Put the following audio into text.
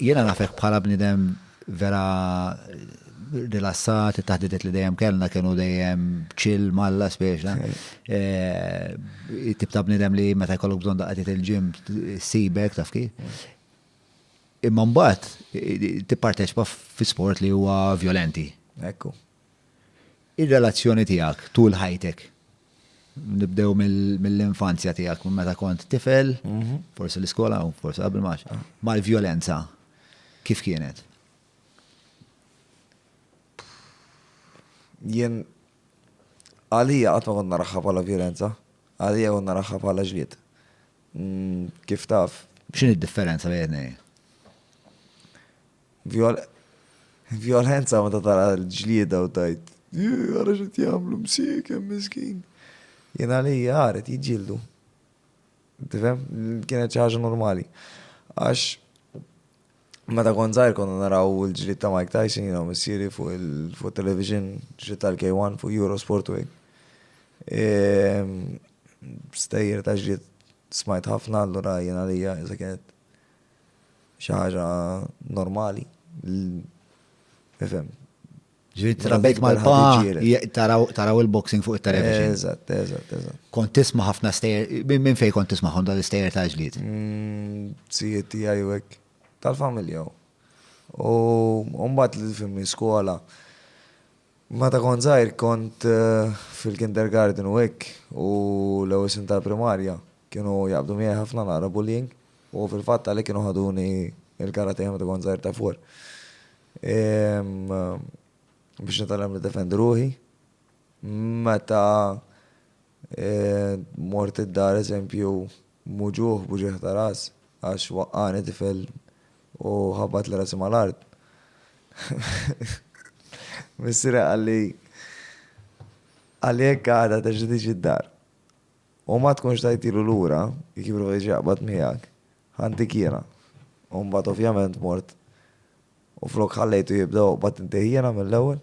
Jiena nafek bħala bniedem vera rilassat, it-taħdidiet li dejjem kellna kienu dejjem chill malla speċa. Tip ta' bniedem li meta jkollok bżonn daqqa il-ġim sibek taf kif. Imma mbagħad tipparteċipa fi sport li huwa vjolenti. Ekku. Ir-relazzjoni tiegħek tul ħajtek, nibdew mill-infanzja tiegħek, minn meta kont tifel, mhm. forsi l-iskola u forsi qabel max, mal-vjolenza, kif kienet? Jien għalija qatt ma kont naraħħa bħala vjolenza, għalija kont naraħħa bħala ġlied. Mm, kif taf? X'in id-differenza bejn Vjolenza meta tara l-ġlieda u tgħid, Ih, ara x'qed jagħmlu, msiekem, miskin. Jien għalija għarid jiġġieldu. Tifhem? Kienet xi ħaġa normali. Għax meta kont żgħir konna naraw il-ġlied ta' Mike Tyson jiena missieri fuq il-television, ġlied tal-K1 fuq Eurosport u ehm, Stejjer ta' ġlied smajt ħafna allura jien għalija iżda kienet xi ħaġa normali. Ifhem. Ġiet trabek mal-pa, taraw il-boxing fuq il-television. Eżatt, eżatt, eżatt. Kont tisma ħafna stejer, minn fej kont tisma ħon dal-istejer ta' ġliet? Mm, Sijiet tijaj u għek, tal-familja. U mbagħad li fimni skola, Meta kont żgħir kont fil-kindergarten u hekk u l-ewwel snin tal-primarja kienu jaqbdu miegħi ħafna naqra bullying u fil-fatt għalhekk kienu ħaduni l-kara tiegħi meta kont żgħir ta' fuq biex nitgħallem niddefendi ruħi. Meta mort id-dar eżempju Muġugħ b'uġigħ ta' ras għax waqqagħni tifel u ħabbatli rasi mal-art. Missieri qalli, Għalhekk għada terġa' tiġi d-dar. U ma tkunx tajtilu lura, jekk jipprova jiġi jaqbad miegħek, ħantik jiena. U mbagħad ovvjament mort u flok ħallejtu jibda joqbad intih jiena mill-ewwel.